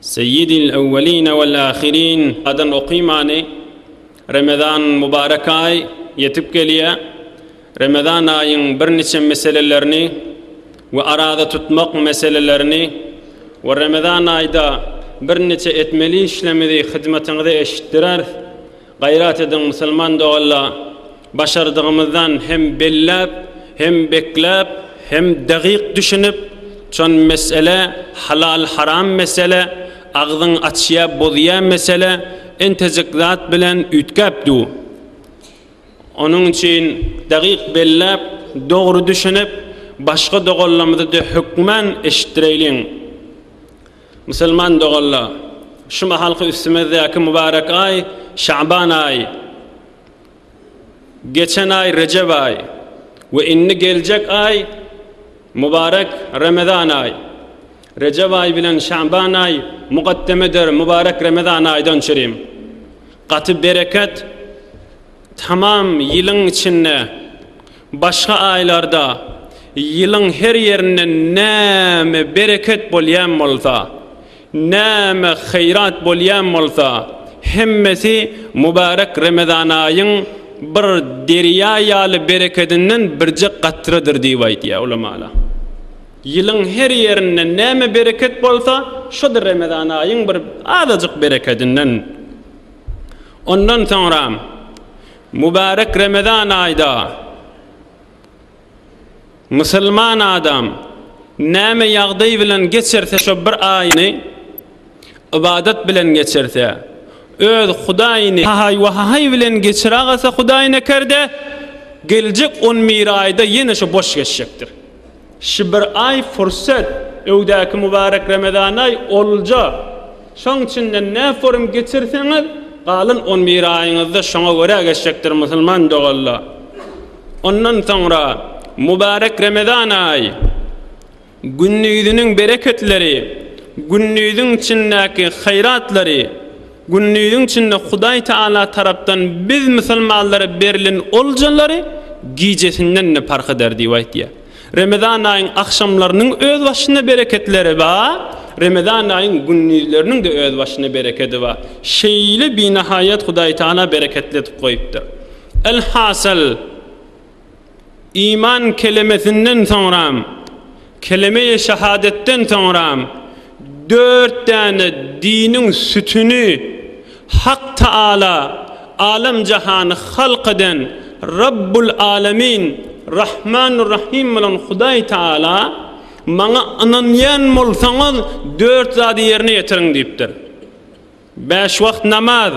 Seýidil ewweline wel ahirin adan oky many Remezan mubarek aý ýetip gelýä Remezan aýyň bir niçe meselelerini we araza tutmak meselelerini we Remezan aýda bir niçe etmeli işlemizi hyzmatyňyza eşitdireris Gaýrat ediň musulman doganlar başardygymyzdan hem belläp hem bekläp hem dagyk düşünip çon mesele halal haram mesele agzyň açýa bozýa mesele entejik zat bilen üýtgäp du onuň üçin dagyk belläp dogry düşünip başga doganlarymyzy de hökman eşitdireýliň. Musulman doganlar! Şu mahalky üstümizdäki mubarek aý Şaban aýy, geçen aý Rejep aýy we indi geljek aý mubarek Remezan aýy. Rejep aýy bilen Şaban aýy mukaddemedir mubarek Remezan aýdan çürim. Gaty bereket, tamam ýylyň içinde Başga aýlarda ýylyň her ýerinde näme bereket bolýan bolsa, näme haýrat bolýan bolsa, hemmesi mübärek Remezan aýyň bir derýa ýaly berekedinden birje gatradyr diýip aýdýar ulamalar. Ýylyň her ýerinde näme bereket bolsa, şo-da Remezan aýyň bir azajyk berekedinden. Ondan soňra Mübärek Remezan aýda musulman adam näme ýagdaý bilen geçirse şo bir aýyny ybadat bilen geçirse öz Hudaýyny hahaý we hahaý bilen geçiragalsa Hudaýy nekerde geljek on bir aýda ýene şo boş geçjekdir. Şi bir aý fursat, öwdäki mubarek Ramazanaý olja. Şoň içinden nä forum geçirseňiz, galan on bir aýyňyzda şoňa görä geçjekdir musulman doganlar. Ondan soňra mubarek Ramazan aýy, gündiziň bereketleri, gündiziň içindäki haýratlary, Gündiziň içinde Hudaý Tagala tarapdan biz musulmanlara berlen oljalary gijesinden-de parh eder diýip aýtýar. Remezan aýyň agşamlarynyň öz başyna bereketleri bar, Remezan aýyň gündizleriniň-de öz başyna berekedi bar. Şeýle binahaýat Hudaý Tagala bereketli edip goýupdyr. Elhasyl. Iman kelemesinden soňram, keleme-i şahadatdan soňram dört däne diniň sütüni, Hak Taala, Alem-jahany halk eden Rabbul Alemin, Rahmanur Rahim bolan Hudaý Taala, Maňa ynanýan bolsaňyz, dört zady ýerine ýetiriň diýipdir. Bäş wagt namaz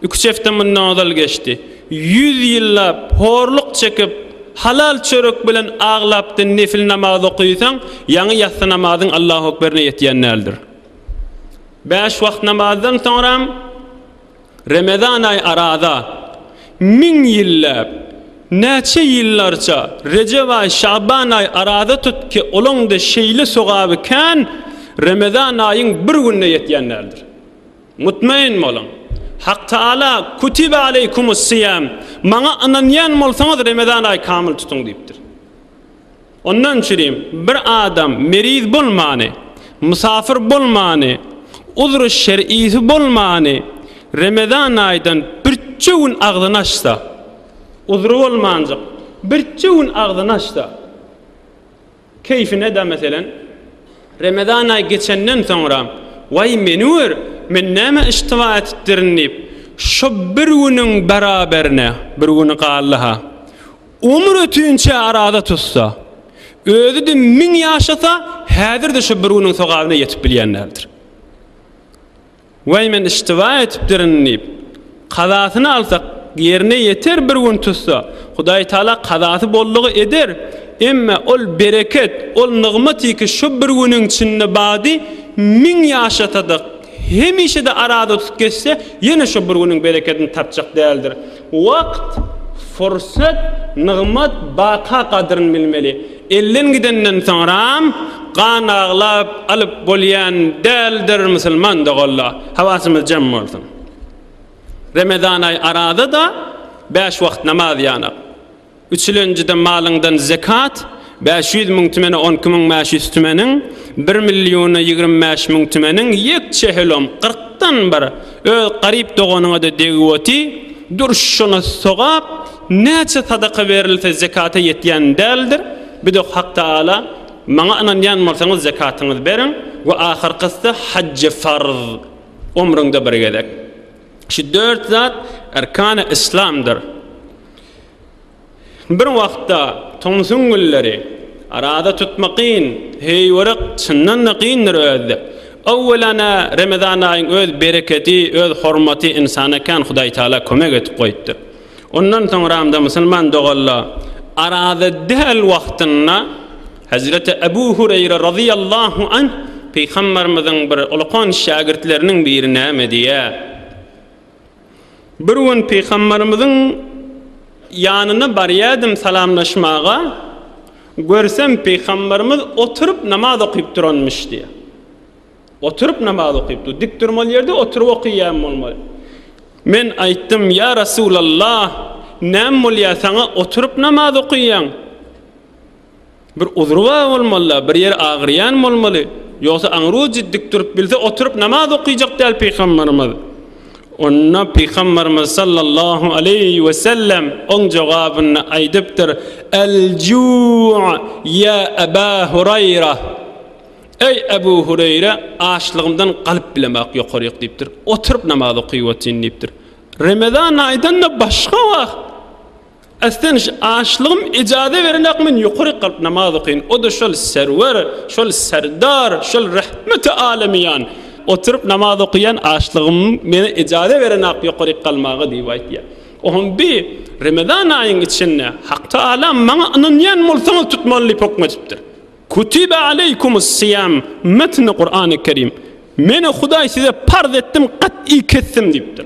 üç hepde mundan ozal geçdi. Ýüz ýyllap horluk çekip, halal çörek bilen aglapdan nefil namaz okaýsaň, ýaňy ýassy namazyň Allahu ekberine ýetýän däldir. Bäş wagt namazdan soňram Remezan aýy araza. Müň ýylläp, näçe ýyllarça Rejep aý, Şaban aý araza tut ki, olaň-da şeýle sogaby kän Remezan aýyň bir gününe ýetýän däldir. Mutmaýyn boluň! Hak Taala, Kutibe aleýkumus-siýam, Maňa ynanýan bolsaňyz, Remezan aýy kamyl tutuň diýipdir. Ondan üçin hem bir adam meriz bolmany, mysafyr bolmany, uzry şer'isi bolmany Remezan aýdan birje gün agzyny açsa, uzry bolmanjyk birje gün agzyny açsa, keýfine-de meselen, Remezan aýy geçenden soňra, Waý, meni gör, men näme iştiba etipdirin diýip, şo bir günüň beraberine, bir güni galdy-ha, Umur ötünçä araza tutsa, özi-de müň ýaşasa, häzir-de şu bir günüň sogabyna ýetip bilýän däldir. Waý, men iştiba etipdirin diýip, kazasyny alsa, ýerine ýeter, bir gün tutsa, Hudaýtagala kazasy boldugy eder, emma ol bereket, ol nygmaty ki, şu bir günüň içinde bady, müň ýaşasa-da, hemişe-de araza tutup geçse, ýene şu bir günüň berekedini tapjak däldir. Wagt, fursat, nygmat, baka gadryn bilmeli. Elden gidenden soňram gan aglap alyp bolýan däldir musulman doganlar. Hawasymyz jem bolsun. Remezanaý arada-da bäş wagt namaz ýanak. Üç ýyl öňjeden malyňdan zekat, bäş ýüz müň tümene on iki müň bäş ýüz tümeniň, bir milliona ýigrimi bäş müň tümeniň ýekçe helom, kyrkdan bir, öz garyp doganyňa-da degip oty, dur şona sogap, näçe sadaka berilse zekata ýetýän däldir, bir de Hak Tagala, Maňa ynanýan bolsaňyz zekatyňyzy beriň we ahyrkysy hajy farz, omrüňde bir gezek. Şu dört zat erkany islamdyr. Bir wagtda tomsuň günleri, Araza tutmak kyn, heý görek, çyndan-da kyndyr özde. Öwwelana Remezan aýyň öz berekedi, öz hormaty ynsana kän Hudaýtagala kömek edip goýupdyr. Ondan soňramda musulman dogalla Araza däl wagtynda Hezreti Ebu Hureýre razyýallahu anh Pygamberimiziň bir ulakan şägirtleriniň biri näme diýýär? Bir gün Pygamberimiziň ýanyna barýardym salamlaşmaga, görsem Pygamberimiz oturyp namaz okyp duranmyş diýýär. Oturyp namaz okypdy. Dik durmaly ýerde oturyp okyýan bolmaly. Men aýtdym, Ýa Resulallah, näme bolýar saňa oturyp namaz okyýaň? Bir uzry bar bolmaly-da, bir ýeri agyrýan bolmaly. Ýogsa aňru dik durup bilse oturyp namaz okyjak däl pygambarymyz. Onda pygambarymyz sallallahu aleýhi we sellem oň jogabynda aýdypdyr, Al-juu' ýa Aba Huraýra. Eý Abu Huraýra, açlygymdan galyp bilemok ýokaryk diýipdir. Oturyp namaz okyp otyryn diýipdir. Remezan aýdan-da başga wagt. Asteniş, Açlygym ejaza berenok men ýokary ykylyp namaz okaýyn, o-da şol Serwer, şol Serdar, şol Rahmeti Alemiýan oturyp namaz okaýan açlygym meni ejaza berenok ýokary ykalmaga diýip aýtýar. Oňam bi Remezan aýyň içinde Hak Taala maňa ynanýan bolsaňyz tutmaly diýip hoküm edipdir. Kutibe aleýkumus siýam metni Kurany Kerim. Meni Hudaý size parz etdim gat'y kesdim diýipdir.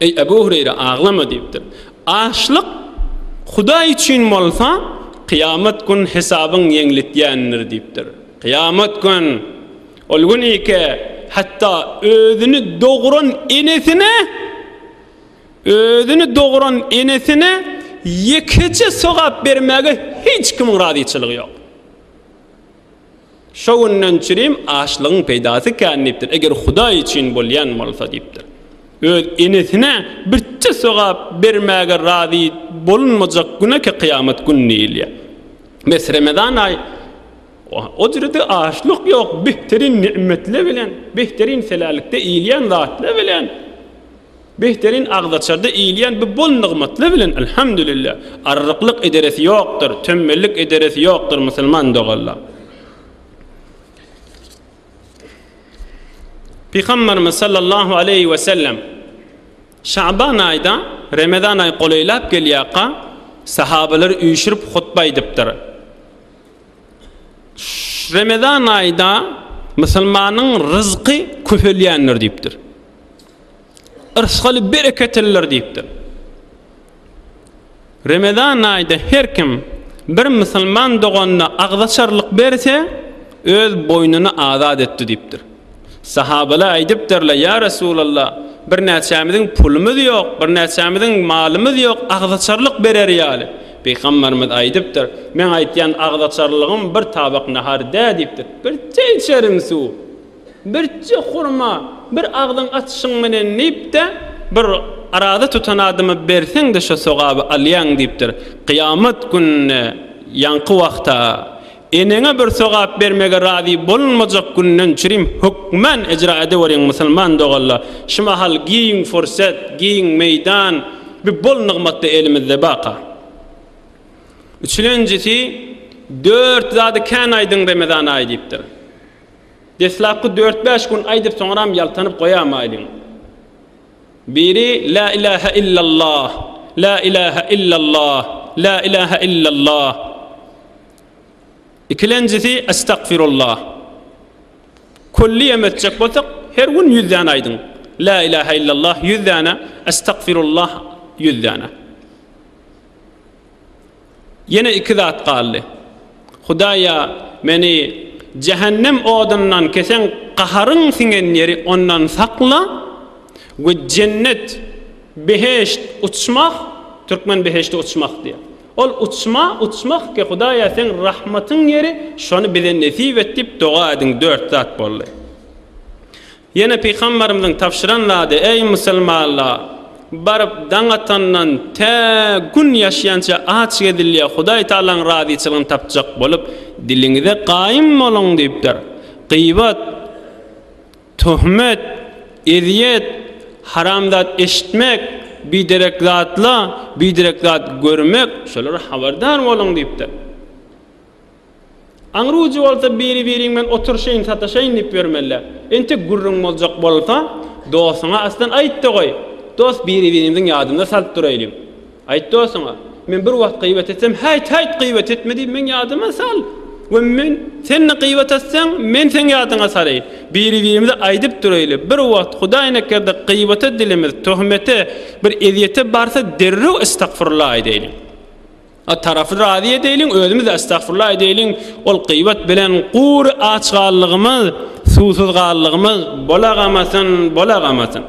Eý, Ebu Hureýre, aglama! diýipdir. Açlyk Hudaý üçin bolsa, kyýamat gün hesabyň ýeňletýändir diýipdir. Kyýamat gün, ol gün iki, hatda özüni dogran enesine, özüni dogran enesine ýekeje sogap bermäge hiç kimiň razyçylygy ýok. Şo günden çirim açlygyň peýdasy kän diýipdir, eger Hudaý üçin bolýan bolsa diýipdir. Öz enesine birçe sogap bermäge razy bolunmajak güneki kyýamat gün diýilýär. Bes Remezan aýy o jürede açlyk ýok, behterin nimetler bilen, behterin selälikde iýilýän zatlar bilen Behterin agzaçarda iýilýän bu bol nygmatlar bilen Alhamdulillah, arryklyk ederesi ýokdur, tönbellik ederesi ýokdur musulman doganlar. Pygamberimiz sallallahu aleýhi we sellem Şaban aýda Ramazan aýy golaýlap gelýärka sahabalary üýşürip hutba aýdypdyr. Ramazan aýda musulmanyň ryzky köpelýändir diýipdir. Yrsgaly bereketiller diýipdir. Remezan aýda her kim bir musulman doganyna agzaçarlyk berse, öz boýnuny azat etdi diýipdir. Sahabalar aýdypdyrlar, ýa Resulallah, birnäçämiziň pulumyz ýok, birnäçämiziň malymyz ýok, agzaçarlyk berer ýaly. Pygamberimiz aýdypdyr, meň aýtýan agzaçarlygym bir tabak nahar dä diýipdir, bir çeýçerim suw. Birje hurma, bir agzyň açyşyň menen diýip-de, bir araza tutan adama berseň-de şo sogaby alýaň diýipdir. Kyýamat gününe ýaňky wagta, eneňe bir sogap bermege razy bolunmajak günden çürim hökmän ejra edeweriň musulman doganlar. Şu mahal giň fursat, giň meýdan, bu bol nygmat-da elimizde baka. Üçlenjisi, Dört zady kän aýdyň Remezan aýy diýipdir. Deslapky dört-bäş gün aýdyp soňram ýaltanyp goýamaýlyň. Biri Lä ilähä illallah, Lä ilähä illallah, Lä ilähä illallah. Ikilenjisi Estagfirullah. Külli ýem etjek bolsak, her gün ýüz däne aýdyň. Lä ilähä illallah ýüz däne, Estagfirullah ýüz däne. Ýene iki zat galdy. Hudaýa meni jähennem odundan kesen gaharyň siňen ýeri ondan sakla we jennet, behişt, uçmak, türkmen behişdi uçmak diýýär. Ol uçma, uçmak ki Hudaýa seň rahmatyň ýeri şony bize nesip et diýip doga ediň dört zat boldy. Ýene Pygamberimiziň tabşyran zady, Eý, musulmanlar! Baryp, daň atandan tä gün ýaşýança aç gezilýä, Hudaý Tagalaň razyçylygyny tapjak bolup, diliňize gaýym boluň! diýipdir. Gybat, töhmet, ezýet, haram zat eşitmek, biderek zatla, biderek zat görmek, şolara habardar boluň! diýipdir. Aňrujy bolsa biri-biriň bilen oturyşaýyn sataşaýyn diýip ýörmeli. Entek gürrüň boljak bolsa, dostuňa aslan aýt-da goý. Dost biri-birimiziň ýadyna salyp duraýlyň. Aýt dostuňa, Men bir wagt gybat etsem, Häýt, häýt, gybat etme diýip meň ýadyma sal we men sende gybat etseň, men seň ýadyňa salaýyn. Biri-birimize aýdyp duraýly. Bir wagt hudaýnekerde gybata dilimiz, töhmete, bir ezýete barsa derrew estagfurullah aýdaýlyň. A tarapy razy edeýliň, özümiz estagfurullah edeýliň, ol gybat bilen gury aç gallygymyz, suwsuz gallygymyz bolagamazyn, bolagamazyn.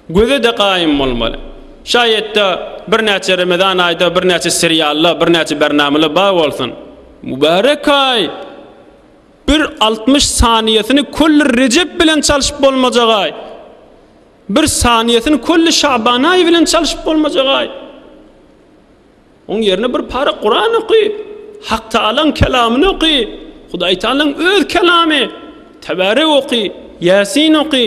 Göze-de gaýym bolmaly. Şaýat-da birnäçe Remezan aýda birnäçe seriallar, birnäçe bernamalar bar bolsun. Mübärek aý! Bir altmyş saniýesini Köller Rejep bilen çalşyp bolmajak aý! Bir saniýesini Kölli Şabanaý bilen çalyşyp bolmajagaý. Oň ýerine bir para Kuran oky, Hak Taalaň kelamyny oky, Hudaý Taalaň öz kelamy, Tebarek oky, Ýasin oky,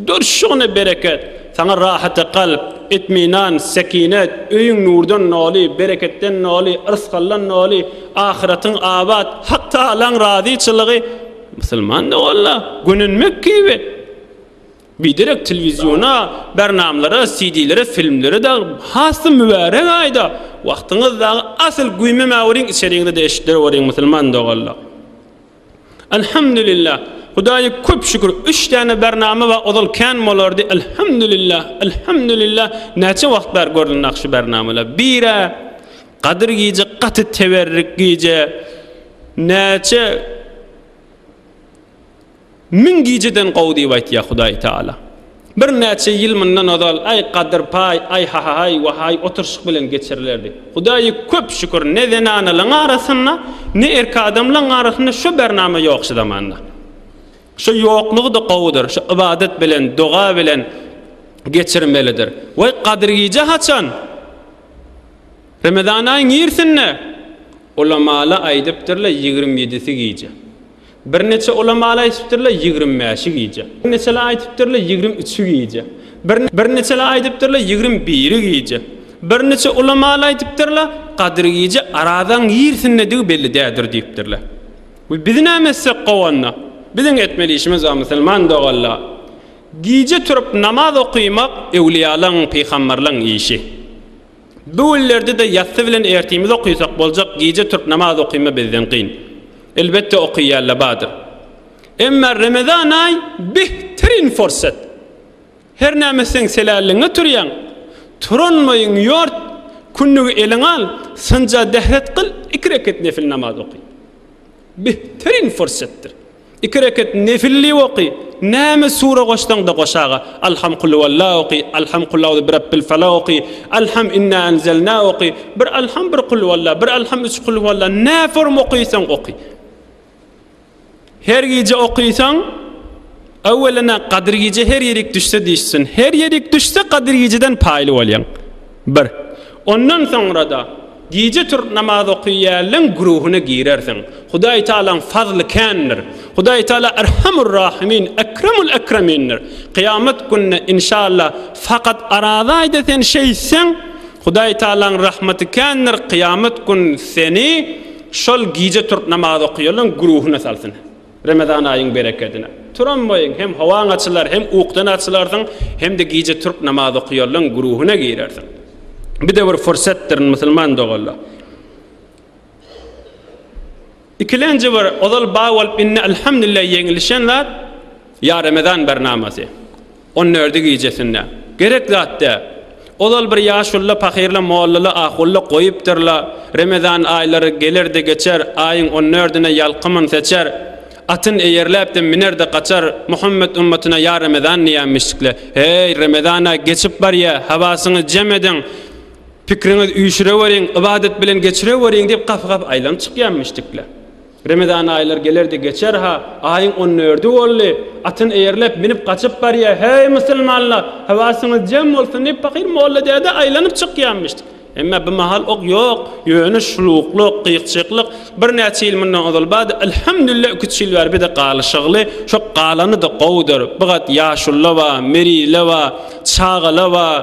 durşuňa bereket, saňa rahaty kalp, itminan, sekinet, öýüň nurdan noly, bereketden noly, yrsgaldan noly, ahyratyň abat, Hak Taalaň razyçylygy, musulman-da walla, gönenmek kibi. Biderek telewiziona, bernamlara, CD-lere, filmlere dag has-da mübärek aýda wagtyňyz dagy asyl güýmemeweriň içeriňizede eşidereweriň musulman doganlar. Elhamdülillah Hudaýa köp şükür üç däne bernama bar ozal kän bolardy Elhamdülillah Elhamdülillah näçe wagt bäri görlen ah şu bernamalar birä Gadyr gije gaty teberrik gije näçe Müň gijeden gowy diýip aýtýar Hudaý Taala. Birnäçe ýyl mundan ozal aý gadyr paý, aý hahaý, wahaý oturyşyk bilen geçirilerdi. Hudaýa köp şükür, ne zenanalaryň arasynda, ne erk adamlaryň arasynda şo bernama ýok şu zamanda. Şo ýoklugy-da gowudyr, şo ybadat bilen, doga bilen geçirmelidir. Waý, gadyr gije haçan? Remezan aýy nirsinde? Ulamalar aýdypdyrlar, ýigrimi ýedisi gije. Birneçe ulamaly aýdypdyrlar ýigrimi bäşi gije. Birneçeler aýdypdyrlar ýigrimi üçi gije. Birneçeler aýdypdyrlar ýigrimi biri gije. Birneçe ulamaly aýdypdyrlar Gadyr gije Arazaň nirsindedigi belli däldir diýipdirler. We biz näme etsek gowy onda? Biziň etmeli işimiz bar musulman doganlar. Gije turup namaz okymak öwliýalaň, pygamberlaň işi. Bu günlerdede ýassy bilen ertimiz okysak boljak gije türk namaz okyma bizden gyn. Elbetde okyýalla badyr. Emma Remezan aý behtirin fursat. Hernäme seň seläliňe turýaň. Turan boýuň ýort, kündügi eliňe al, synja dehret kyl, iki reket nefil namaz oky. Behtirin fursatdyr. Iki reket nefilli oky, näme sure goşsaň-da goşaga, Alham Kulhuwalla oky, Alham Kulauzu Birabbil Felak oky, Alham Inna Enzelna oky, bir Alham bir Kulhuwalla, bir Alham üç Kulhuwalla, nä form okysaň oky. Her gije okysaň, öwwelena Gadyr gije her ýerik düşse dişsin, her ýerik düşse Gadyr gijeden paýly bolýaň. Bir. Ondan soňra-da gije turup namaz okaýanlaň güruhyna girersiň. Hudaý Tagalaň fazly kändir. Hudaý Tagala Erhamur Rahimin, Ekremul Ekremindir. Kyýamat gününe, inşalla, fakat arazaýda sen şeýtseň, Hudaý Tagalaň rahmaty kändir, kyýamat gün seni şol gije turup namaz okaýanlaň güruhyna salsyn. Remezan aýyň berekedine. Turam boýuň, hem howaň açylar, hem ukdan açylarsyň, hem-de gije türk namaz okuýanlaň guruhyna girersiň. Bide bir fursatdyr, musulman doganlar. Ikilenji bir, ozal bar bolup, indi alhamdulillah ýeňilişen zat, Ýa Remezan bernamasy. On dördi gijesinde. Gerek zat dä. Ozal bir ýaşulla pahyr-la, molla-la, ahulla goýupdyr-la, Remezan aýlary geler-de geçer, aýyň on dördüne ýalkymyn seçer, atyn eýerläp-de miner-de gaçar, Muhammet ümmatyna ýa Remezan diýämişikle. Heý, Remezan-a geçip barýa, hawasyňy jem ediň, pikriňiz üýşüreweriň, ybadat bilen geçireweriň diýip gap-gap aýlanyp çykýamişdikle. Remezan aýlar gelerdi geçer-ha, aýyň on dördi boldy. Atyn eýerläp, minip gaçyp barýa, Heý, musulmanlar, höwäsiňiz jem bolsun! diýip, pakyr molla däde aýlanyp çykýamyşdy. Emma bu mahal ok ýok, ýöne şuluklyk, gyýkjyklyk birnäçe ýyl mundan ozal bardy. Alhamdulillah, iküç ýyl bäri bize galyşygly, şo galany-da gowudyr. Bigat ýaşulylar bar, meriler bar, çagalar bar.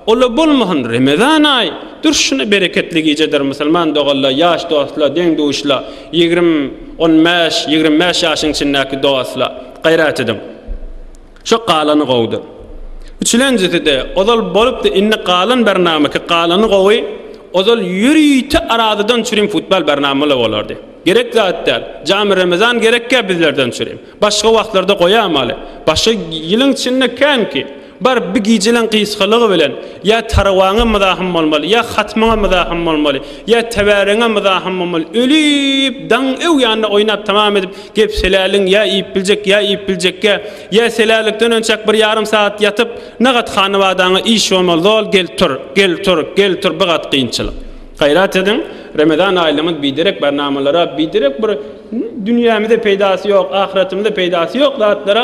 Ol-a bolmasyn, Remezan aýy, durşuna bereketli gijedir, musulman doganlar, ýaş dostlar, deň-duşlar, ýigrimi, on bäş, ýigrimi bäş ýaşyň içindäki dostlar, gaýrat ediň. Şo galany gowudyr. Üçülenjisi-de, ozal bolupdy, indi galan bernama ki, galany gowy, ozal ýörite arazadan çürim futbal bernama-la bolardy. Gerek zat däl. Jamy Remezan gerekkä bizlerden çürim. Başga wagtlarda goýamaly. Başga ýylyň içinde kän ki. Baryp bir gijeliň gysgalygy bilen, ýa tarawaňa mydahym bolmaly, ýa hatmyňa mydahym bolmaly, ýa täbäreňe mydahym bolmaly, ölüp, daň öw ýanynda oýnap tamam edip, gep seläligiň ýa iýip biljek, ýa iýip biljekge, ýa selälikden önçäk bir ýarym sagat ýatyp, nagat hanybadaňa iş bolmaly, zol, gel tur, gel tur, gel tur, bir gat kynçylyk. Gaýrat ediň, Remezan aýlygyňyz biderek barnamalara, biderek bir dünýämize peýdasy ýok, ahyretimize peýdasy ýok zatlara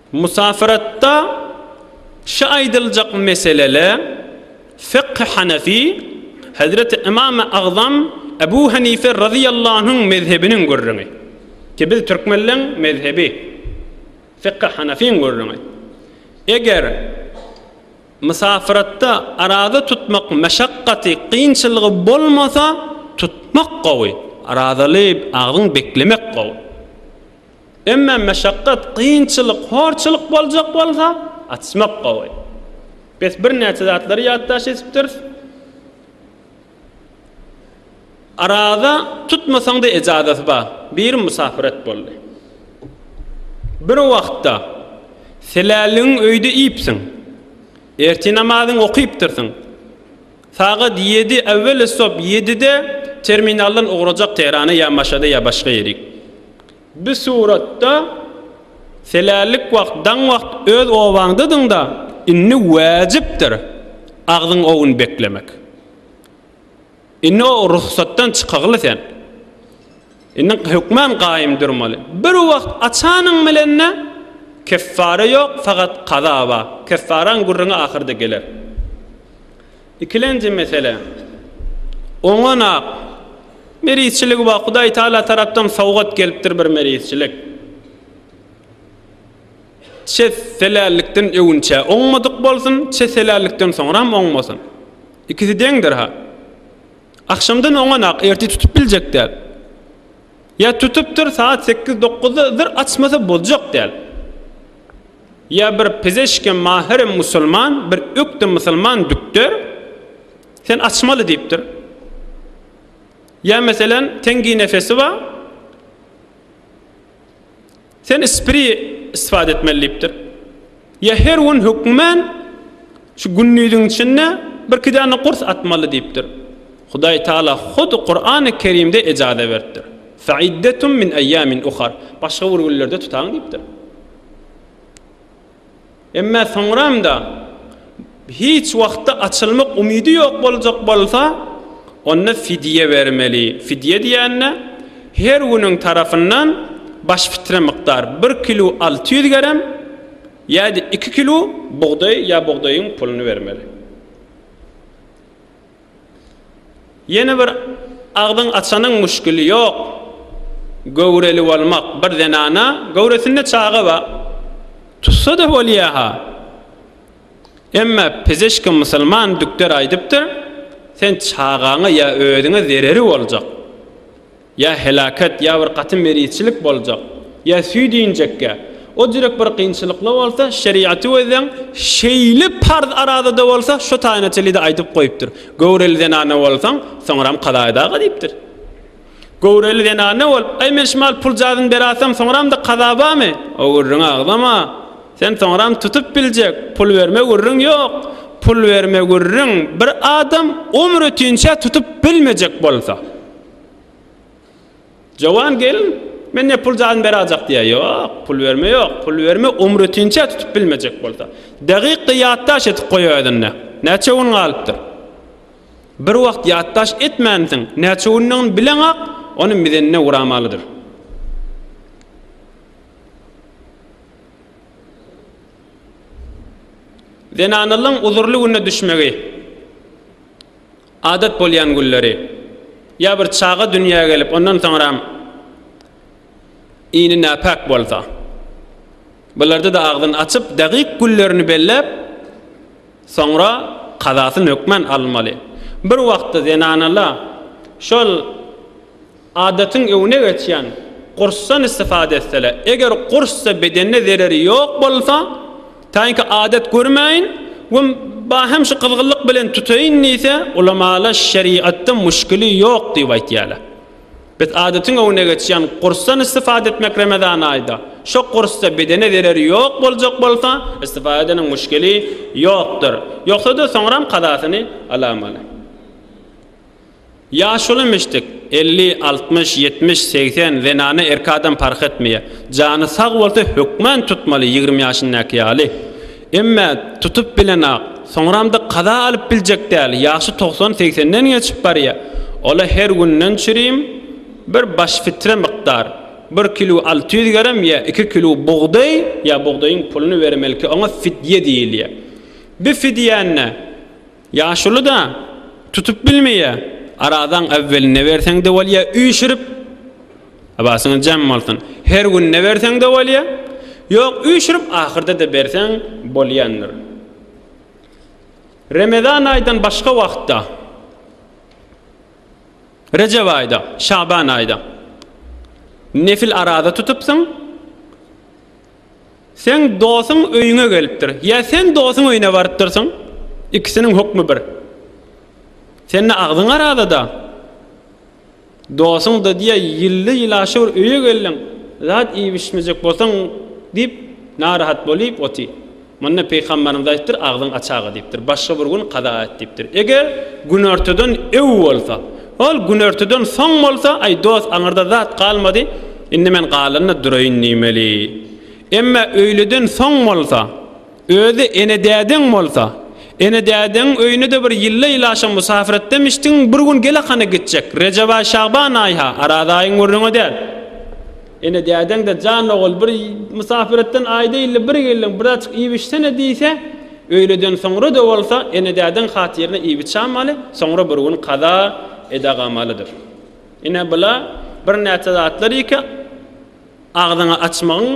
Musafiratda şy aýdyljak meselele Fekh-i Hanefi, Hezreti Ymam-y Agzam Ebu Hanife razyýallanhunyň mezhebiniň gürrüňi. Ki biz türkmenleň mezhebi Fekh-i Hanefiň gürrüňi. Eger musafiratda araza tutmak meşakgaty, kynçylygy bolmasa tutmak gowy. Arazaly agzyň beklemek gowy. Emma meşakgat, kynçylyk, horçulyk boljak bolsa, açmak gowy. Biz birnäçe zatlary ýatdaş edipdiris. Araza tutmasaň-da ejazasy bar. Biri musafiret boldy. Bir wagtda Seläligiň öýde iýipsiň. Ertir namazyňy okypdyrsyň. Sagat ýedi, äwwel esbap ýedide terminaldan ugrajak Tährana ýa Maşada ýa başga ýerik. Bu suratda Selällik wagt, daň wagt öz obaňdadyňda, indi wäjipdir agzyň owun beklemek. Indi o ruhsatdan çykagly sen. Indi hökman gaýym durmaly. Bir wagt açanyň bilen-de keffara ýok, fakat kaza bar. Keffaraň gürrüňi ahyrda geler. Ikilenji mesele. Oňa-nak merizçiligi bar. Hudaý Tagala tarapdan sowgat gelipdir bir merizçilik. Çet helällikden öwünçä oňmadyk bolsun, çet helällikden soňram oňmasyn. Ikisi deňdir-ha. Agşamdan oňanak ertir tutup biljek däl. Ýa tutupdyr sagat sekiz-dokuzda zyr açmasa boljak däl. Ýa bir pizeşke mahyrem musulman, bir ökde musulman dükter, Sen açmaly diýipdir. Ýa meselen tenginefesi bar. Sen ispiri istifade etmeli diýipdir. Ýa her gün hökmän şu gündiziň içinde birki däne gurs atmaly diýipdir. Hudaý Taala hut Kurany Kerimde ejaze beripdir. Fe'iddetum min eýýamin uhar. Başga bir günlerde tutaň diýipdir. Emma soňram-da, hiç wagtda açylmak umydy ýok boljak bolsa, onda fidýe bermeli. Fidýe diýende, her günüň tarapyndan baş fitre mukdar, bir kilu alty ýüz gerem ýa-da iki kilu bugdaý ýa bugdaýyň puluny bermeli. Ýene bir agzyň açanyň muşkili ýok. Göwreli bolmak bir zenana göwresinde çaga bar. Tutsada bolýaha. Emma pizişki musulman dükder aýdypdyr, sen çagaňa ýa özüňe zereri boljak. Ýa helaket, ýa bir gaty merizçilik boljak. Ýa süýt injekge. O jürek bir kynçylykly bolsa, şerigaty gözleň, şeýle parz arazada bolsa, şo taýyna çenli-de aýdyp goýupdyr. Göwreli zenana bolsaň, soňram kaza eda-ga diýipdir. Göwreli zenana bolup, Äý, men şumal pul jazyny beratsam, soňram-da kaza bamy? O gürrüňi agzama. Sen soňram tutup biljek, pul berme gürrüň ýok. Pul berme gürrüň bir adam ömrütinçä tutup bilmejek bolsa. Jowan gelin, Men ne pul jazm berajak diýýär. Ýok, pul berme ýok. Pul berme umrütinçä tutup bilmejek bolsa. Dagykda ýatdaş edip goý özünde. Näçe gün galypdyr? Bir wagt ýatdaş etmänsiň, näçe gündigini bileňak, ony mizenine uramalydyr. Zenanlygyň uzurly güne düşmegi. Adat bolýan günleri, ýa bir çaga dünýä gelip, ondan soňram ini näpäk bolsa, bularda-da agzyny açyp, dagyk günlerini belläp, soňra kazasyny hökman almaly. Bir wagtda zenanala şol. Adatyň öňüne geçýän gursdan istifada etseler, eger gursda bedenine zereri ýok bolsa, taýynky adat görmäýin we ba hem şu gyzgynlyk bilen tutaýyn diýse, ulamalar şerigatda muşkili ýok diýip aýtýarlar. Biz adatyň öňüne geçýän gursdan istifada etmek Remezan aýda, şo gursda bedene zereri ýok boljak bolsa, istifada edeniň muşkili ýokdur. Ýogsa-da soňram kazasyny alamaly. Ýaşuly müşdük, elli, altmyş, ýetmiş, segsen, zenana, erkek adam parh etmeýär. Jany sag bolsa hökman tutmaly ýigrimi ýaşyndaky ýaly. Emme tutup bilenok. Soňramda kaza alyp biljek däl, ýaşy togsan, segsenden geçip barýar. Ola her günden çürim, bir baş fitre mykdar, bir kilo alty ýüz gerem ýa iki kilo bugdaý ýa bugdaýyň puluny bermelki oňa fidýe diýilýär. Bi fidýäni. Ýaşuly-da, tutup bilmeýä. Arazaň äwwelinde berseň-de bolýa, üýşürip. Abasyňyz jem bolsun. Her günde berseň-de bolýa. Ýok, üýşürip ahyrda-da berseň bolýandyr. Remezan aýdan başga wagtda, Rejep aýda, Şaban aýda, nefil araza tutupsyň. Seň dosuň öýüňe gelipdir. Ýa sen dosuň öýüne barypdyrsyň. Ikisiniň hukmy bir. Sende agzyň arazada. Dosuň da diýe ýylly ýylaşy bir öýe geldiň. Zat iýip içmejek bolsaň diýip narahat bolyp oty. Munda Pygamberimiz aýtdyr, Agzyň açaga diýipdir. Başga bir gün kaza et diýipdir. Eger günortadan öw bolsa, ol günortadan soň bolsa, aý dost, aňyrda zat galmady, indi men galanda duraýyn diýmeli. Emma öýleden soň bolsa, özi ene-dädeň bolsa, ene-dädeň öýüne-de bir ýylla ýylaşan musafir etdemişdiň, bir gün gel-a hany gitjek. Rejeb aý, Şagban aýha, Araz aýyň gürrüňi däl. Ene dädeň-de jan ogul bir mysapiretden aýda ýylda bir geldiň, birazjyk iýip içsene diýse, öýleden soňra-da bolsa ene dädeň hatyryna iýip içämaly, soňra bir gün kaza edagamalydyr. Ine bula birnäçe zatlar ýeke agzyňy açmagyň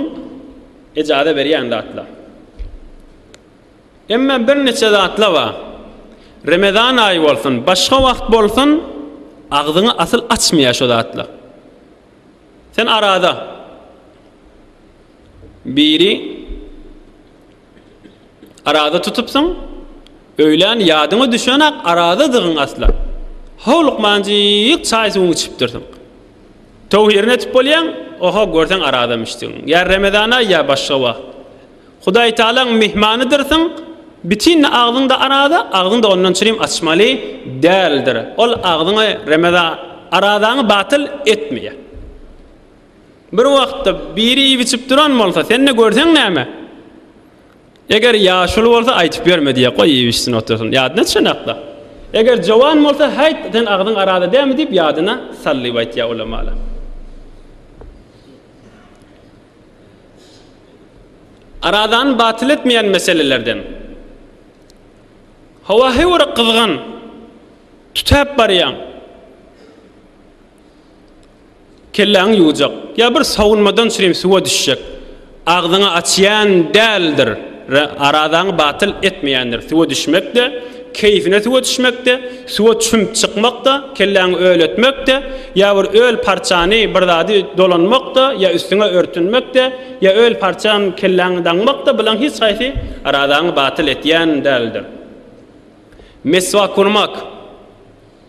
ejaza berýän zatlar. Emma birniçe zatla bar. Remezan aýy bolsun, başga wagt bolsun agzyňy asyl açmaýa şo zatla. Sen arada biri arada tutupsyň, öýlän ýadyňa düşenak aradadygyň asla. Howlukmanjyk çaý suwuňy içipdirsiň. Töwhirini etip bolýaň, oho, görseň aradam içdigiň. Ýa Remezan aý, ýa başga wagt. Hudaýtagalaň myhmanydyrsyň, bitin agzyňda araza, agzyňda ondan çirim açmaly däldir. Ol agzyňy, remeza, arazaňy batyl etmeýär. Bir wagtda biri iýip-içip duran bolsa, sen-de görseň näme? Eger ýaşuly bolsa, aýtyp ýörme diýýär, goý iýip-içsin, otursyn, ýadyna düşenok-da. Eger jowan bolsa, häýt, seniň agzyň araza dälmi diýip, ýadyna sal diýip aýtýar ulamalar. Aradany batyl etmeýän meselelerden. Hawa heýwere gyzgyn. Tütäp barýaň. Kelläňi ýuwjak. Ýa bir sawunmadan çürim suwa düşjek. Agzyňy açýan däldir. Re, Arazaňy batyl etmeýändir. Suwa düşmek-de, keýfine suwa düşmek-de, suwa çümüp çykmak-da, kelläňi öletmek-de, ýa bir öl parçany, bir zady dolanmak-da, ýa üstüňe örtünmek-de, ýa öl parçan kelläňi daňmak-da, bulaň hiç haýsy arazaňy batyl etýän däldir. Meswak urmak.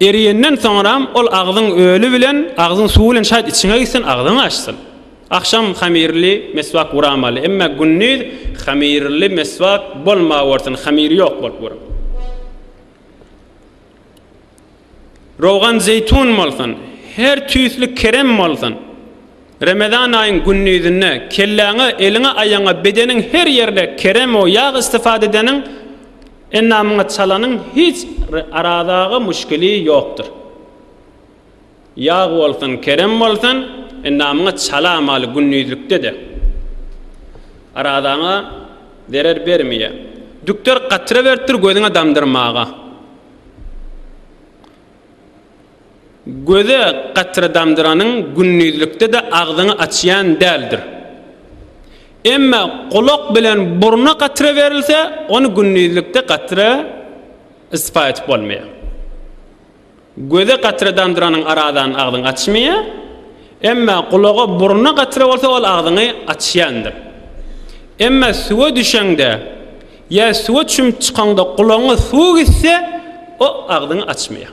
Eriyenden soňram ol agzyň öli bilen agzyň suwy bilen şayt içiňe gitsin agzyňy açsyn. Agşam hamirli meswak uramaly emme gündiz hamirli meswak bolmawersin hamiri yok bolup ur. Rogan zeytun bolsun her tüysli kerem bolsun Remezan ayyn gündizinde kelläňe eliňe aýaňa bedeniň her yerine kerem o yag istifade edeniň Enna muňa çalanyň hiç arazaga muşkili ýokdur. Ýag bolsun, kerem bolsun, enna muňa çala mal gündizlikde-de arazaňa zerer bermeýä. Dükter gatra beripdir gözüňe damdyrmaga. Göze gatradamdyranyň gündizlikde-de agzyňy açýan däldir. Emma gulak bilen burna gatra berilse, ony gündizlikde gatra ispa edip bolmaýar. Göze gatradamdyranyň aradan agzyňy açmaýar. Emma gulaga burna gatra bolsa, ol agzyňy açýandyr. Emma suwa düşeňde ýa suwa çümüp çykaňda gulagyňa suw gitse, o agzyňy açmaýar.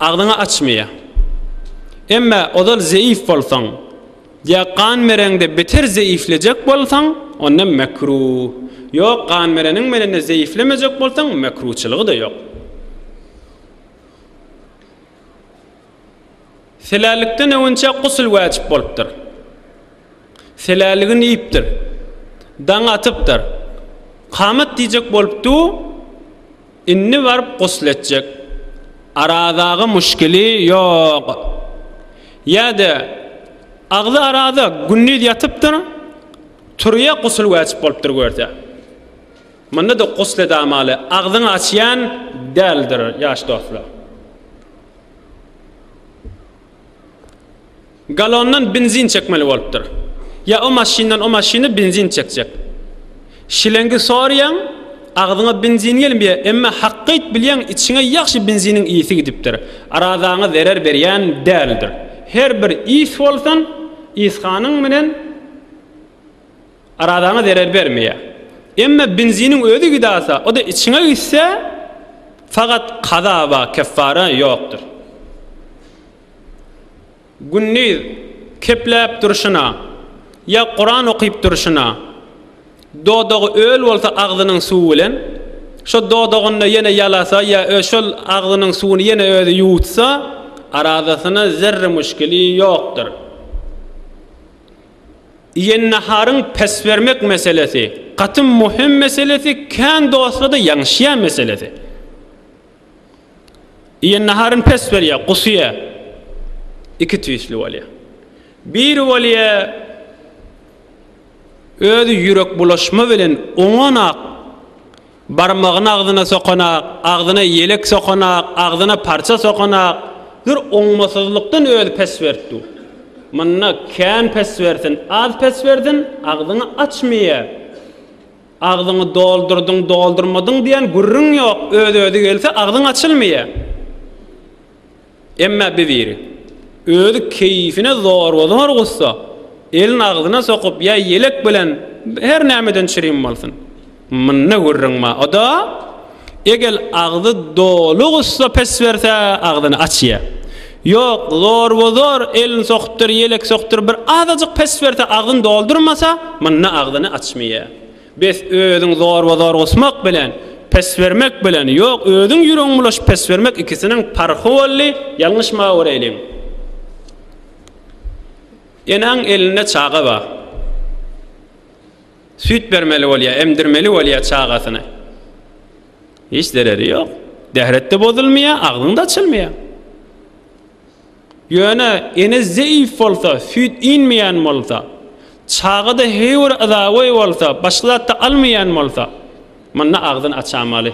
Agzyňy açmaýa. Emme ozal zeýif bolsaň, ýa gan bereňde beter zeýiflejek bolsaň, onda mekruh. Ýok, gan bereniň menende zeýiflemejek bolsaň, mekruhçylygy-da ýok. Selälikden öwünçä gusl wajyp bolupdyr. Seläligini iýipdir. Daň atypdyr. Kamat diýjek bolupdy. Indi baryp gusl etjek. Aradaga muşkili ýok. Ýa-da agzy arada gündiz ýatypdyr, turýa gusl wajyp bolupdyr görse. Munda-da gusl edamaly, agzyňy açýan däldir ýaş dostlar. Galondan benzin çekmeli bolupdyr. Ýa o maşyndan o maşyna benzin çekjek. Şilengi sorýaň, agzyňa benzin gelmeýär, emma hakgyýt bilýäň içiňe ýagşy benziniň ysy gidipdir. Arazaňa zerer berýän däldir. Her bir ys bolsun, yshanyň bilen. Arazaňa zerer bermeýär. Emma benziniň özi gidasa, o-da içiňe gitse, fakat kaza bar, keffara ýokdur. Gündiz kepläp durşuna, ýa Kuran okyp durşuna, dodagy öl bolsa agzynyň suwy bilen, şo dodagynda ýene ýalasa ýa şol agzynyň suwuny ýene özi ýuwutsa, arazasyna zerre muşkili ýokdur. Iýen naharyň pes bermek meselesi, gaty möhüm meselesi, kän dostlarda ýaňşýan meselesi. Iýen naharyn pes berýär, gusýar. Iki tüýsli bolýar. Biri bolýar, özi ýürek bulaşma bilen oňanak Barmagyny agzyna sokanak, agzyna ýelek sokanak, agzyna parça sokanak bir oňmasyzlykdan özi pes berip dur. Munda kän pes bersin, az pes bersin, agzyňy açmaýa. Agzyňy doldurdyň, doldurmadyň diýen gürrüň ýok, öz-özi gelse agzyň açylmaýa. Emma bir biri, özi keýifine zorba-zor gussa, elini agzyna sokup ýa ýelek bilen her nämeden çirim bolsun. Munda gürrüň bar. O-da, eger agzy doly gussa pes berse, agzyny açýar. Ýok, zorba-zor elini sokupdyr, ýelek sokupdyr, bir azajyk pes berse, agzyny doldurmasa, munda agzyny açmaýar. Bes özüň zorba zor gusmak bilen pes bermek bilen ýok özüň ýüregiň bulaşyp pes bermek ikisiniň parhy boldy ýalňyş ma göreyliň enaň elinde çaga ba süýt bermeli bolýa emdirmeli bolýa çagasyny hiç zereri ýok dähretde bozulmaýa agzyň da açylmaýa Ýöne ene zeýif bolsa, süýt inmeýän bolsa, çaga-da heýwir yzagoý bolsa, başga zat-da almaýan bolsa, munda agzyn açamaly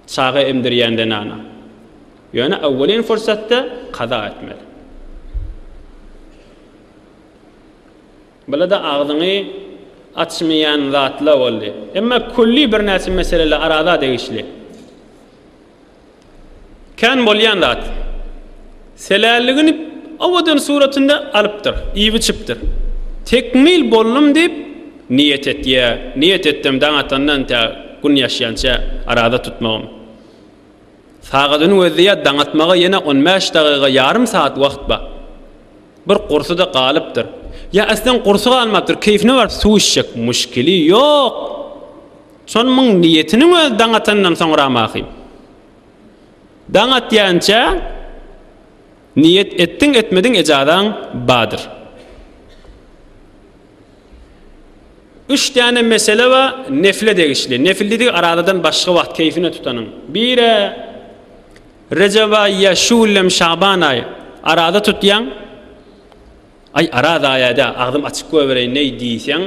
çaga emdirýän zenana. Ýöne awwelin fursatda kaza etmeli. Bula-da agzyňy açmaýan zatlar boldy. Emma külli birnäçe meseleler araza degişli. Kän bolýan zat. Selälligini owadan suratynda alypdyr, iýip-içipdir. Tekmil boldum diýip, niýet etýär. Niýet etdim daň atandan tä gün ýaşýança araza tutmagym. Sagadynyň özüdä daň atmaga ýene on bäş dagyga, ýarym sagat wagt bar. Bir gursy-da galypdyr. Ýa, äslen gursy galmapdyr, keýfine baryp suw içjek. Muşkili ýok. Şol muň niýetiniň özi daň atandan soňramahý. Daň atýança niýet etdiň etmediň ejazaň badyr. Üç däne mesele bar nefile degişli. Nefil diýdik arazadan başga wagt keýfine tutanyň. Bire Rejep aýy ýa Şuwwlem Şaban aýy araza tutýaň. Aý, ara zaýa-da, agzym açyk goýbereýin-eý diýseň,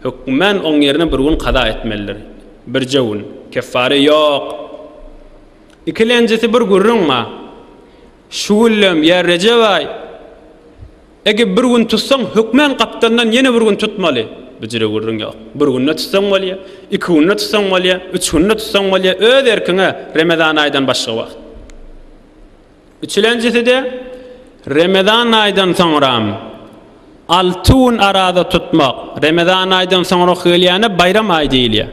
hökmän oň ýerine bir gün kaza etmelidir. Birje gün. Keffary ýok. Ikilenjisi bir gürrüň-a. Şu güllem, ýa Rejep-aý, ege bir gün tutsaň, hökmän gapdalyndan ýene bir gün tutmaly. Büjre gürrüň ýok. Bir günde tutsaň bolýa, iki günde tutsaň bolýa, üç günde tutsaň bolýa, öz erkiň-ä, remezan aýdan başga wagt. Üçlenjisi-de, Remezan aýdan soňram, alty gün araza tutmak, Remezan aýdan soňrak gelýäne baýram aýy diýilýär.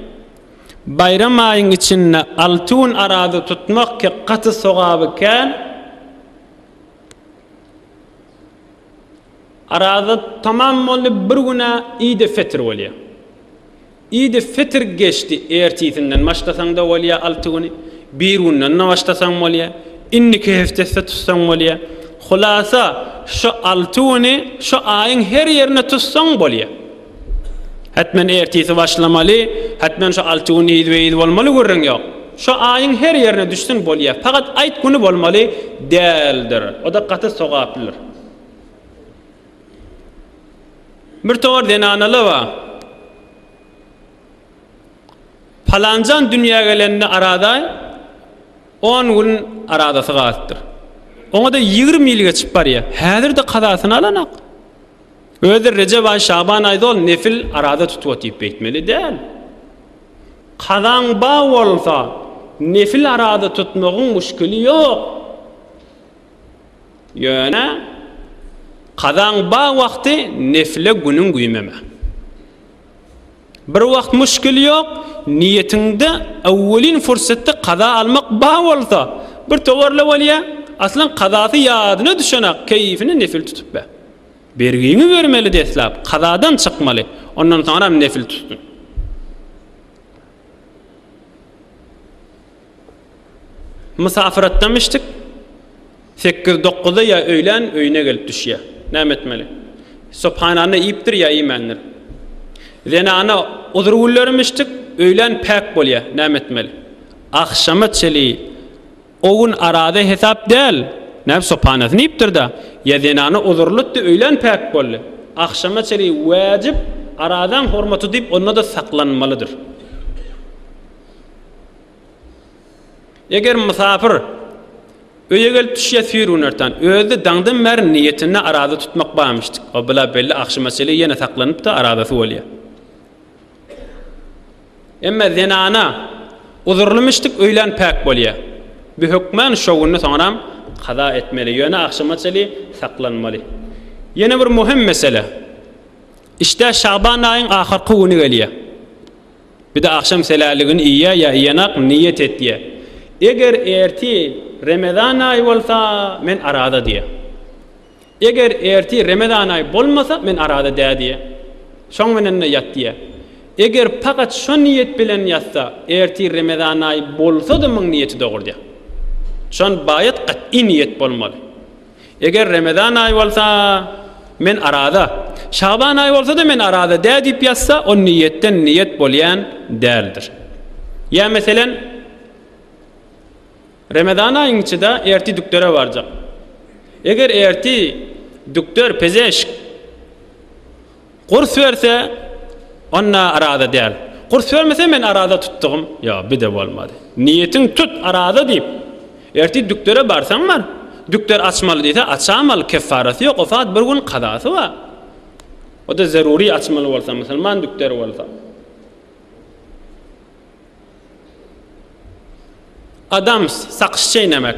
Baýram aýyň içinde alty gün araza tutmak ki gaty sogaby kän. Araza tamam boldy, bir gün-ä Idi fetir bolýar. Idi fitr geçdi, ertisinden başlasaň-da bolýar, alty güni, birgünden-de başlasaň bolýar, indiki heftesde tutsaň bolýar. Hulasa, şu alty güni şu aýyň her ýerinde tutsaň bolýar. Hetmen ertisi başlamaly, hetmen şu alty gün yzbe-yz bolmaly gürrüň ýok. Şu aýyň her ýerine düşsün bolýar. Pagat aýt güni bolmaly däldir. O-da gaty sogaplydyr. Bir togar zenanalar bar. Palanjan dünýä gelende aradaý on gün aradasy galypdyr. Oňa-da ýigrimi ýyl geçip barýar. Häzir-de kazasyny alanak. Özleri Rejep aý, Şaban aýda ol nefil arada tutup otyp beýtmeli däl. Kazaň bar bolsa, nefil arada tutmagyň muşkili ýok. Ýöne kazaň ba wagty nefile günüň güýmeme. Bir wagt muşkil ýok, niýetiňde öwwelin fursatda kaza almak ba bolsa, bir towarla bolýa, aslan kazasy ýadyna düşenak keýifini nefil tutup ber. Bergiňi bermeli deslap, kazadan çykmaly, ondan soňram nefil tutsun. Mysafyr atdam içdik. Sekiz dokuzda ýa öýlän öýüne gelip düşýär. Näme etmeli? Subhanany iýipdir ýa iýmändir. Zenana uzur günlerim içdik, öýlän päk bolýar. Näme etmeli? Agşama çeli o gün arada hesap däl. Näme subhanasyny iýipdir-de, ýa zenana uzurlytdy, öýlän päk boldy. Agşama çeli wajyp aradaň hormaty diýip onda-da saklanmalydyr. Eger mysapyr öýe gelip düşýä süýr gün ertan, özi-de daňdan bäri niýetinde araza tutmak barmyşdyk. O bla belli agşama çenli ýene saklanyp-da arazasy bolýa. Emme zenana uzurlymyşdyk öýlän päk bolýa. Bu hökman şo günni soňram kaza etmeli, ýöne agşama çenli saklanmaly. Ýene bir möhüm mesele. Işdä Şaban aýyň ahyrky güni gelýä. Bir-de agşam seläligini iýýär ýa iýenak niýet etýär. Eger ertir Remezan aýy bolsa, men araza diýýär. Eger ertir Remezan aýy bolmasa, men araza dä diýýär. Şoň menende ýat diýýär. Eger pagat şo niýet bilen ýatsa, ertir Remezan aýy bolsa-da muň niýeti dogry diýýär. Şon baýat gat'y niýet bolmaly. Eger Remezan aýy bolsa, men araza, Şaban aýy bolsa-da men araza dä diýip ýazsa, o niýetden niýet bolýan däldir. Ýa meselem, Remezan aýyň içi-de erti dükdere barjak. Eger erti dükder, pezeşk, Gurs berse, onda araza däl. Gurs bermese men araza tutdugym ýok, bide bolmady. Niýetiň tut, araza diýip. Ertir dükdere barsaň bar. Dükder açmaly diýse açam al, keffarasy ýok, o sagat bir gün kazasy bar. O-da zerury açmaly bolsa, musulman dükderi bolsa. Adams, sakyş çeýnemek.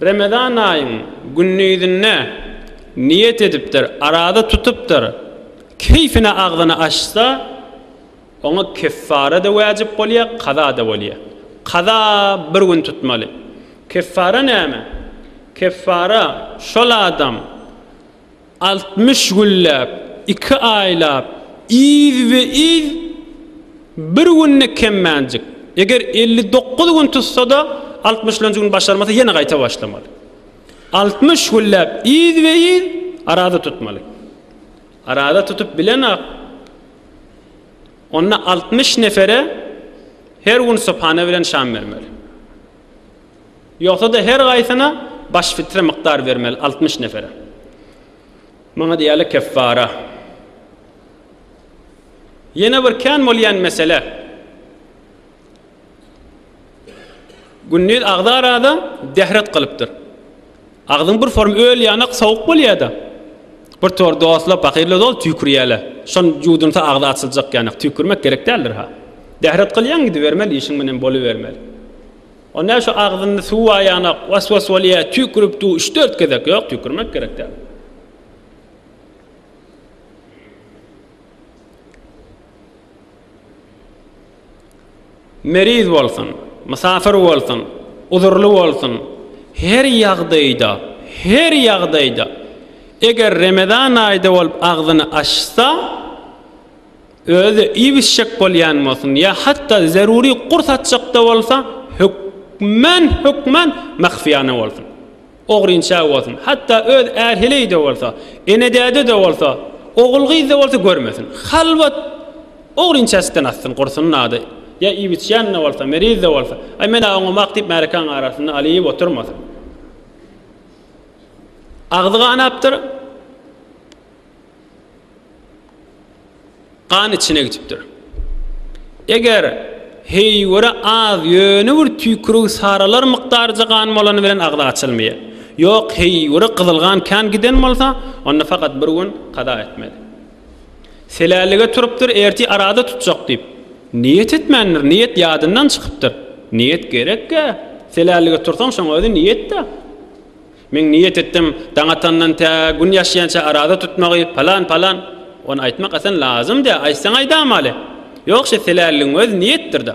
Remezan aýyň gündizinde niýet edipdir, araza tutupdyr, keýfine agzyny açsa, oňa keffara-da wajyp bolýar, kaza-da bolýar. Kaza bir gün tutmaly. Keffara näme? Keffara şol adam. Altmyş günläp, iki aýlap, yzbe-yz bir günde kemmänjik. Eger elli dokuz gün tutsa-da, altmyşlanjy gün başarmasa, ýene gaýta başlamaly. Altmyş günläp yzbe-yz araza tutmaly. Araza tutup bilen-ak, onda altmyş nefere her gün subhana bilen şam bermeli. Ýogsa-da her gaýsyna baş fitre mukdar bermeli, altmyş nefere. Muňa diýýärler keffara. Ýene bir kän bolýan mesele. Gündiz agza arada dehret gylypdyr. Agzyň bir form öl ýanak sowuk bolýada. Bir tor dostlar pakirler doly tüýkürýäle. Şon ýuwdunsa agzy açyljak ýanak tüýkürmek gerek däldir ha. Bähret gylýaň gidibermeli işiň bilen bolybermeli. O nä şu agzynda suw bar ýanak was was bolýa tüýkürip dur üç dört gezek ýok tüýkürmek gerek däl. Meriz bolsun, mysafir bolsun, uzurly bolsun, her ýagdaýda, her ýagdaýda, eger Remezan aýda bolup agzyny açsa, özi iýibişjek bolýan bolsun ýa hatda zerury gurs açjak-da bolsa, hökman, hökman mahfiýana bolsun. Ogryň çägi bolsun. Hatda öz är-heleý-de bolsa, ene-däde-de bolsa, ogul-gyz-da bolsa görmesin. Halwat, ogryň çäsitden atsyn, gursun-a-da. Ýa iýip-içýän-de bolsa, meriz-de bolsa, Aý, men-ä oňamak diýip märekäň arasynda aly iýip oturmasyn. Agzy ganapdyr. gan içine gitipdir. Eger heýwere az ýöne bir tüýkürügi saralar mukdaryja gan bolany bilen agzy açylmaýar. Ýok, heýwere gyzyl gan kän giden bolsa, onda fakat bir gün kaza etmeli. Selällige turupdyr, erti arada tutjak diýip, niýet etmändir, niýet ýadyndan çykypdyr. Niýet gerek-ä, selällige tursaň şoň özi niýet-dä. Men niýet etdim, daň atandan tä gün ýaşýança araza tutmagy, palan, palan. Ony aýtmak asan lazym dä, aýtsaň aýdamaly. Ýogşy, helälligiň özi niýetdir-dä.